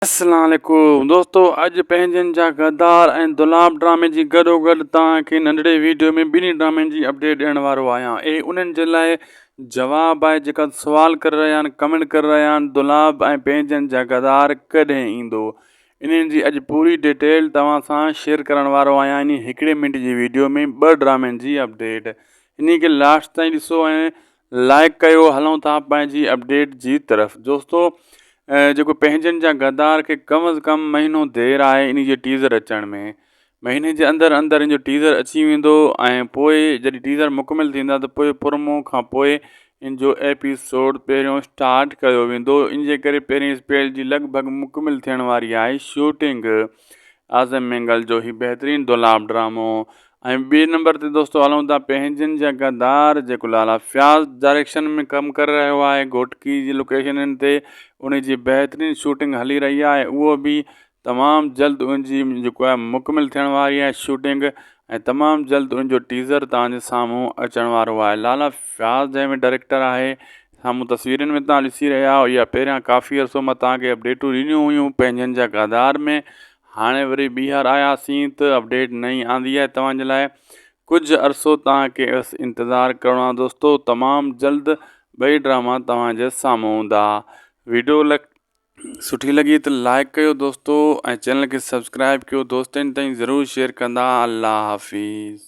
السلام عليڪم دوستو اڄ پنهنجن جا غدار ۽ دولاب ڊرامي جي گڏو گڏ توهان کي ننڍڙي ويڊيو ۾ ٻنهي ڊرامن جي اپڊيٽ ڏيڻ وارو آهيان اهي انهن جي لاء جواب آهي جيڪا سوال ڪري رهيا آهن ڪمينٽ ڪري رهيا آهن دولاب ۽ پنهنجن جا غدار ڪڏهن ايندو انهن جي اڄ پوري ڊيٽيل توهان سان شيئر ڪرڻ وارو آهيان انهي هڪڙي منٽ جي ويڊيو ۾ ٻه ڊرامن جي اپڊيٽ انهي کي لاسٽ تائين ڏسو ۽ لائيڪ ڪيو هلون ٿا پنهنجي اپڊيٽ جي طرف دوستو جيڪو پنهنجن جا غدار کي ڪم از ڪم مهينو دير آهي ان جي ٽيزر اچڻ ۾ مهيني جي اندر اندر ان جو ٽيزر اچي ويندو ۽ پوء جڏهن ٽيزر مڪمل ٿيندا ته پوء پرمو کان پوء ان جو ايپيسوڊ پهريون اسٽارٽ ڪيو ويندو ان جي ڪري پهرين اسپيل جي لڳ ڀڳ مڪمل ٿيڻ واري آهي شوٽنگ اعظم مينگل جو هي بهترين دولاب ڊرامو ۽ ٻئي نمبر تي دوستو هلون ٿا پنهنجن جا غدار جيڪو لالا فياض ڊائريڪشن ۾ ڪم ڪري رهيو آهي گهوٽڪي جي لوڪيشنن تي ان جي بهترين شوٽنگ هلي رهي آهي اهو به تمام جلد ان جي جيڪو آهي مڪمل ٿيڻ واري آهي شوٽنگ ۽ تمام جلد ان جو ٽيزر توهان جي سامهون اچڻ وارو آهي لالا فياض جنهن ۾ ڊائريڪٽر آهي سامهون تصويرن ۾ تان ڏسي رهيا آهيو يا پهريان ڪافي عرصو مان تان کي اپڊيٽون ڏنيون هيون پنهنجن جا غدار ۾ هاڻي وري ٻيهر آياسين ته اپڊيٽ نئين آندي آهي توهان جي لاء ڪجهه عرصو توهان کي بس انتظار ڪرڻو آهي دوستو تمام جلد ٻئي ڊراما توهان جي سامهون هوندا ويڊيو لک سٺي لڳي ته لائڪ ڪيو دوستو ۽ چينل کي سبسڪرائب ڪيو دوستن تائين ضرور شيئر ڪندا الله حافظ